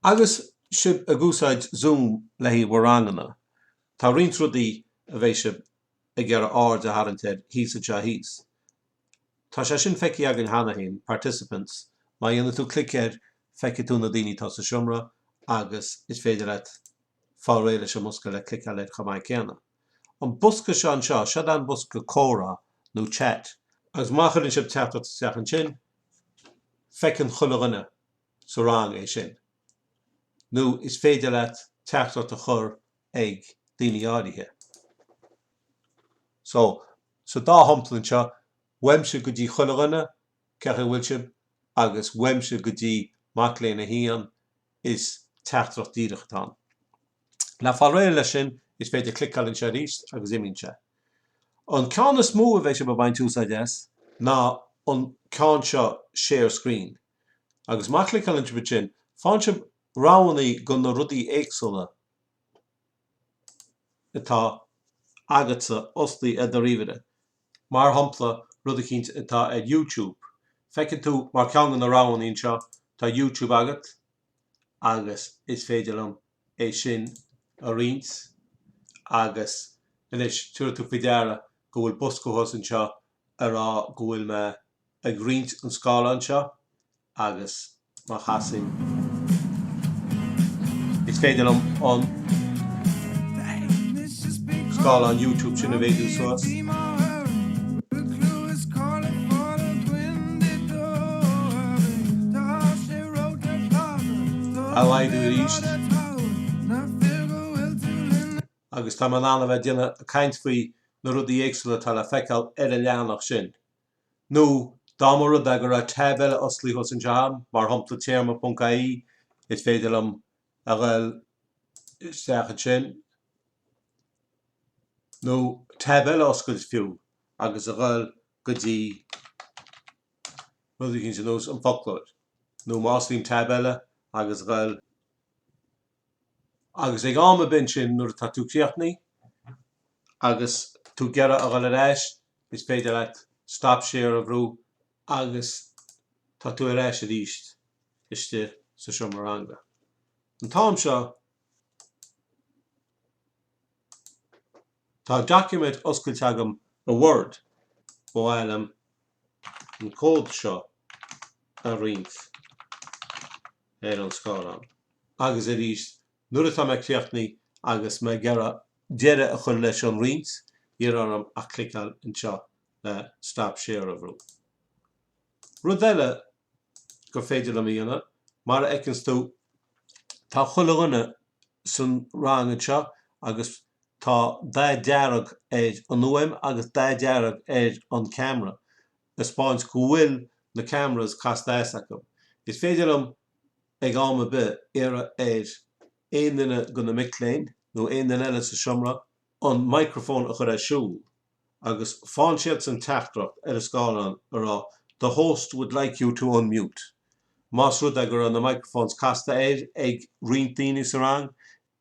Agus sibh ag úsáid Zoom le haghaidh mo ranganna, tá roinnt rudaí a bheidh sibh ag iarraidh aird a tharraingt air thíos anseo thíos. Tá sé sin feicthe againn cheana féin, Participants, má dhéanann tú clic air feicfidh tú na daoine atá sa seomra agus is féidir leat fáil réidh leis an mbosca le clic eile chomh maith céanna. An bosca seo anseo, seo'd é an bosca comhrá nó chat. Agus má chuireann sibh teachtaireacht isteach ansin, feiceann chuile dhuine. sa rang é sin. Nó is féidir leat teachtaireacht a chur ag daoine áirithe. So, sa dá shampla anseo, uaimse go dtí chuile dhuine, Cén chaoi a bhfuil sibh? agus uaimse go dtí mac léinn 1, is teachtaireacht díreach atá ann. Le fáil réidh leis sin, is féidir cliceáil anseo arís agus imíonn sé. An ceann is mó a bheidh sibh ag baint úsáid as ná an ceann seo, Share Screen. Agus má chliceálann sibh ansin, faigheann sibh roghannaí go na rudaí éagsúla atá agatsa osclaithe ar do ríomhaire. Mar shompla, rud eicínt atá ar YouTube. Feiceann tú mar ceann de na roghannaí anseo, tá YouTube agat agus is féidir liom é sin a roinnt. Agus anois, tabharfaidh tú faoi deara go bhfuil bosca thuas anseo ag rá go bhfuil mé ag roinnt an scáileán seo agus má chasaim is féidir liom an scáileán YouTube sin a mhéadú suas. a laghdú arís agus tá mé in ann a bheith ag déanamh caint faoi na rudaí éagsúla atá le feiceáil ar an leathanach sin. nó dá mba rud é go raibh tab eile osclaithe cheana agam, mar shompla téarma ponc ie, is féidir liom a ghoil isteach ansin, nó tab eile a oscailt fiú, agus a ghoil go dtí rud eicínt ar nós an foclóir, nó má osclaím tab eile agus a ghoil Agus ag am ar bith ansin nuair atá tú críochnaithe agus tú ag iarraidh a dhul ar ais is féidir leat stop share a bhrú agus tá tú ar ais arís istigh sa seomra ranga. An t-am seo tá document oscailte agam i Word, ba mhaith liom an cód seo a roinnt ar an scáileán. Agus arís, nuair atá mé críochnaithe agus mé ag iarraidh deireadh a chur leis an roinnt, níl orm ach cliceáil anseo le Stop Share a bhrú. Rud eile gur féidir liom a dhéanamh. Mar a fheiceanns tú, tá chuile dhuine san rang anseo agus tá dath dearg ar an fhuaim agus dath dearg ar an camera, a spáint go bhfuil na cameras casta as acu. Is féidir liom ag am ar bith iarraidh ar aon duine go na mic léinn nó aon duine eile sa seomra an microphone a chur ar siúl. agus faigheann siadsan teachtaireacht ar an scáileán a rá The host would like you to unmute. Más rud é go raibh na microphones casta air ag roinnt daoine sa rang,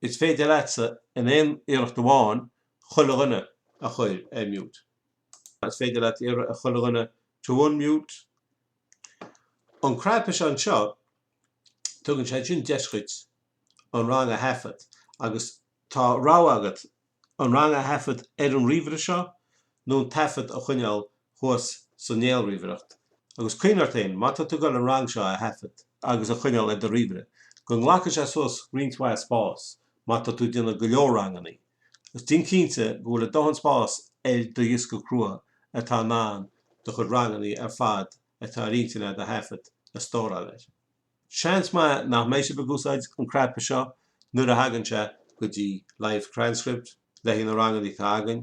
is féidir leatsa in aon iarracht amháin chuile dhuine a chur ar mute. Is féidir leat iarraidh ar chuile dhuine to unmute. An cnaipe seo anseo, tugann sé sin deis dhuit an rang a thaifead agus tá rogha agat an rang a thaifead ar an ríomhaire seo nó an taifead a choinneáil thuas sa néalríomhaireacht. Agus cuimhnigh ort féin, má tá tú ag dul an rang seo a thaifead agus a choinneáil ar do ríomhaire, go nglacfaidh sé suas roinnt mhaith spás má tá tú ag déanamh go leor rangannaí. Agus déan cinnte go bhfuil a dóthain spás ar do dhiosca crua atá in ann do chuid rangannaí ar fad atá ar intinn agat a thaifead, a stóráil air. Seans maith nach mbeidh sibh ag úsáid an cnaipe seo nuair a thagann sé go dtí Live Transcript le haghaidh na rangannaí atá againn.